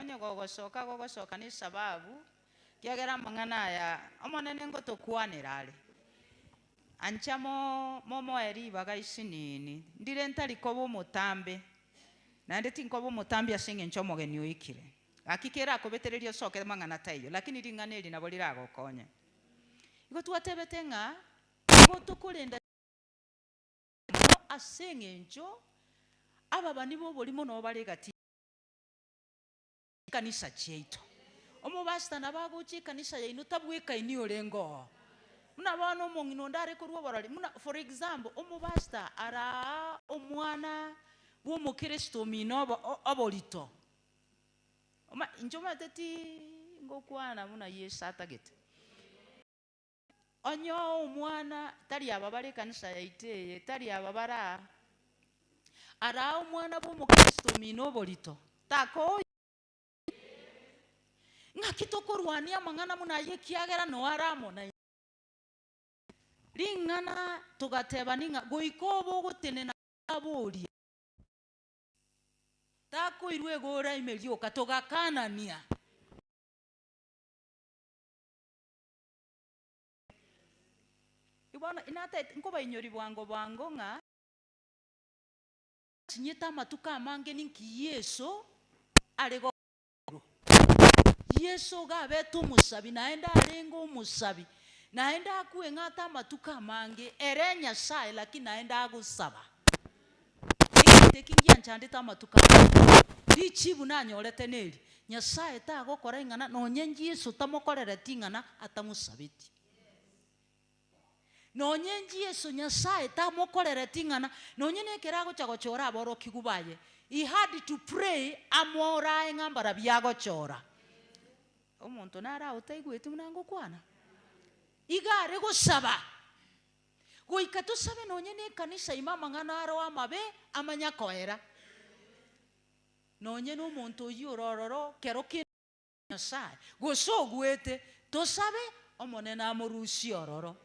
onye gogosoka gogosoka nesababu, kiagera amang'ana aya Omonene ngotokwanera are, Ancha momoe ribaga isinini, ndire ntari koba omotambe, naende tinkoba omotambe ase engencho omogeni oikire. Gaki kerakobetererie osoke amang'ana taiyo, lakini ring'ana eri nabo riragokonye. Igo twatebete ng'a nigo tokorenda mono ase engencho ababani b'oborimo nobare egati yaito. Ekanisa chiaito. Omobasta nabo agochia ekanisa yaino tabwekaini orenge oo. Buna bono omong'ina onde are korwa oborori, buna for example, omobasta araa omwana bw'omokristo omino obo oborito. Oma inche omanyete ti ngokwana buna Yeso atagete. Onye oo omwana tari aba bare ekanisa yaito eye, tari aba bare aa, ara omwana bw'Omokristo omino oborito, takoiyo. Ng'aki tokorwania amang'ana buna ayio ekiagera noo are amo naintwe? Ring'ana togatebani ng'a goika obe ogotenena gose aborie takoirwa iga oraime rioka, togakanania. Inki bono inataete nkobainyoria bwango bwango ng'a. Natinyete amatuko amange ninki Yeso are gokorwa? Yeso iga abete omosabi naende arenge omosabi, naende akweng'ata amatuko amange ere Nyasae lakini naende agosaba. Egento eki ngianchandete amatuko aya, richiibu nanyorete neri, Nyasae tagokora ing'ana nonye Yeso tamokorereti ing'ana atamosabetie. Nonye Yeso Nyasae tamokorereti ing'ana nonye nekero agocha gochora aborokigwa baye, he had to pray amorae ng'a mbarabio agochora. Omonto naro otaigweti buna ngokwana? Iga are gosaba. goika tosabe nonya nekanisa ime amang'ana aroo amabe amanya koera. Nonya nomonto oyio ore ororo kero kende ase Nyasae, gose oguete, tosabe Omonene amorusie ororo.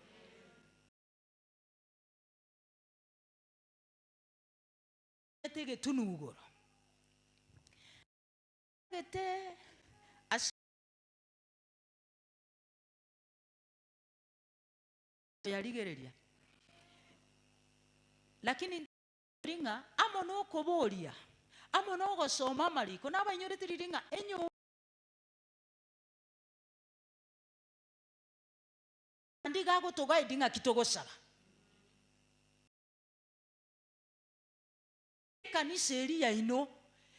Ete egetunugoro gete ase Toyarigereria. Lakini intwe toinyori ng'a amo nokoboria, amo nogosoma amariko, nabainyorete riria ng'a enyomba Naende iga agotoguide ng'aki togosaba. Ekanisa eria yaino,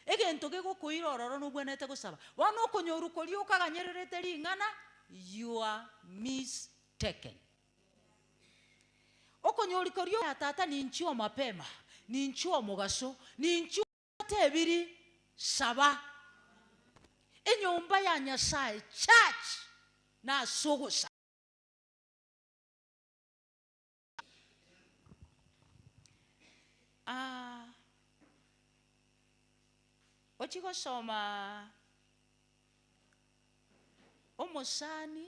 egento gegokoira ororo nobwenerete gosaba. Bono okonyorwa koria okaganyererete ring'ana your mistaken. Okonyorwa koria okoira Tata ninchio omapema, ninchio omogaso, ninchio otebiri saba. Enyomba ya Nyasaye, church, nase ogosaba. Ah, ochie gosomaa omosani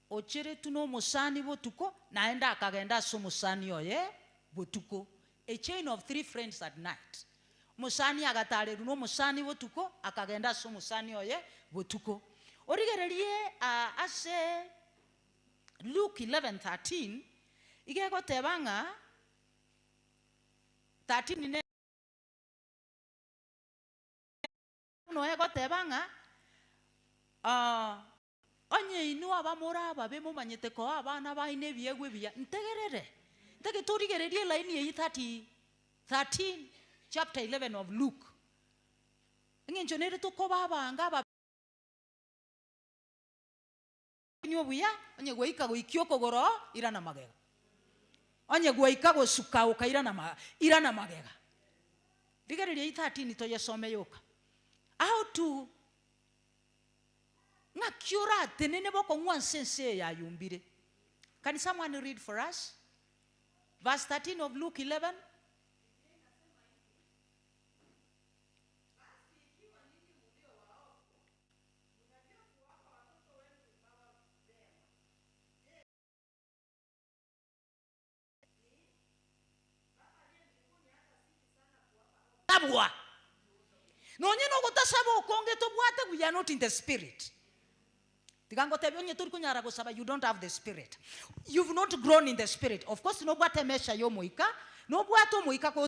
ocheretwe na omosani botuko, naende akagenda ase omosani oye botuko, a chain of three friends at night, omosani agatarerwa na omosani botuko, akagenda ase omosani oye botuko, origererie ah ase. Luke 11:13, iga egoteba ng'a 13 ne. Buna egoteba ng'a, aah, onye inwe abamura ababe momanyete koa abana baino ebiegwa ebiya, ntegerere, ntake torigererie elaini eyio 30, 13, chapter 11 of Luke. Eng'encho nere tokoba abange ababe. Inwe obuya, onye gwaika goikia okogoro, irana magega. Onye gwaika gosuka oka irana ma, irana magega. Rigereria eye 13 toyesome yoka. How to ng'aki oratenene bokong'wa nse ense eye yayumbire. Can someone read for us? Verse 13 of Luke 11. Tabua. Nonye nogotasaba okonge tobwate we are not in the spirit. Tiga ngotebie onye tori konyara gosaba you don't have the spirit. You've not grown in the spirit. Of course nobwate emesha ya omoika, nobwate omoika ko.